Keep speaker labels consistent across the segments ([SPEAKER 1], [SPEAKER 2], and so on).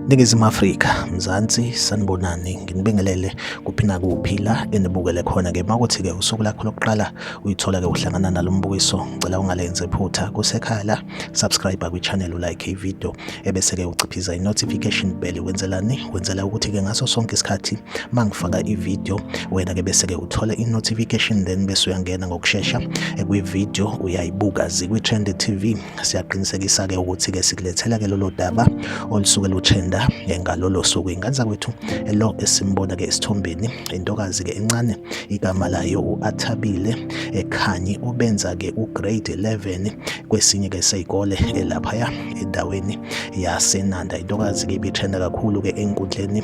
[SPEAKER 1] Ningizimu Afrika, Mzansi, sanibonani. Nginibingelele kuphi nakuphi la enibukele khona-ke. Uma kuthi-ke usuku lakho lokuqala uyithola-ke uhlangana nalo mbukiso, ngicela ungalenze phutha. Kusekhaya la, subscribe kwi-channel, ulike ividiyo, ebese-ke uciphiza i-notification bell. Wenzelani? Wenzela ukuthi-ke ngaso sonke isikhathi mangifaka ivideo wena ke bese ke uthola i-notification then bese uyangena ngokushesha kwi-video uyayibuka zikwi-trend tv siyaqinisekisa ke ukuthi ke sikulethela ke lolo daba olusuke lutrenda ngalolo suku inganza kwethu lo esimbona ke esithombeni intokazi ke encane igama layo u-athabile ekhanyi ubenza ke ugrade 11 kwesinye ke seyikole elaphaya endaweni yasenanda intokazi ke ibitrenda kakhulu ke enkundleni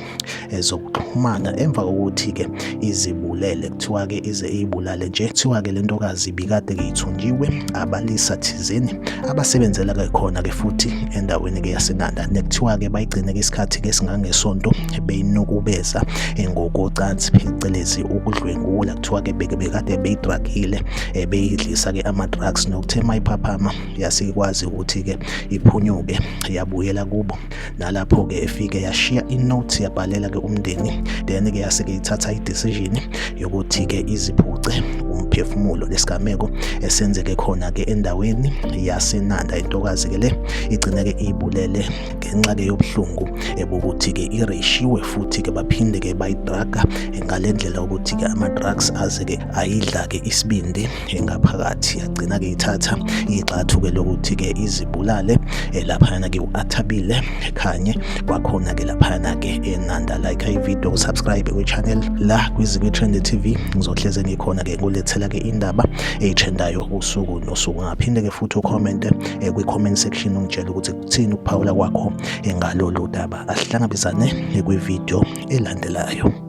[SPEAKER 1] ezokuxhumana emva kokuthi-ke izibulele kuthiwa-ke ize iyibulale nje kuthiwa-ke le ntokazi ibikade ngiyithunjiwe abalisa thizeni abasebenzela ke khona-ke futhi endaweni-ke yasenanda nekuthiwa-ke bayigcine-ke isikhathi-ke esingangesonto beyinukubeza ngokocansi phecelezi ukudlwengula kuthiwa-ke bekade beyidragile eh, beyidlisa-ke ama-drugs nokuthe mayiphaphama yasikwazi ukuthi-ke iphunyuke yabuyela kubo nalapho ke efike yashiya inote yabhalela ke umndeni then ke yase ke ithatha idecision yokuthi ke iziphuce umphefumulo lesigameko esenzeke khona ke endaweni yasenanda intokazi ke le igcine ke ibulele ngenxa ke yobuhlungu ebokuthi ke ireshiwe futhi ke baphinde ke bayidraga ngalendlela ukuthi ke ama drugs aze ke ayidla ke isibindi engaphakathi yagcina-ke ithatha igxathu-ke lokuthi-ke izibulale eh, laphayana ke u-athabile khanye kwakhona-ke laphayana-ke enanda like ivideo subscribe kwi-channel la kwizikwi-trend tv ngizohleze ngikhona-ke ngulethela-ke indaba eyitrendayo usuku nosuku ngaphinde-ke futhi ukhomente eh, kwi-comment section ungitshela ukuthi kuthini ukuphawula kwakho eh, ngalolu daba asihlangabezane kwivideo elandelayo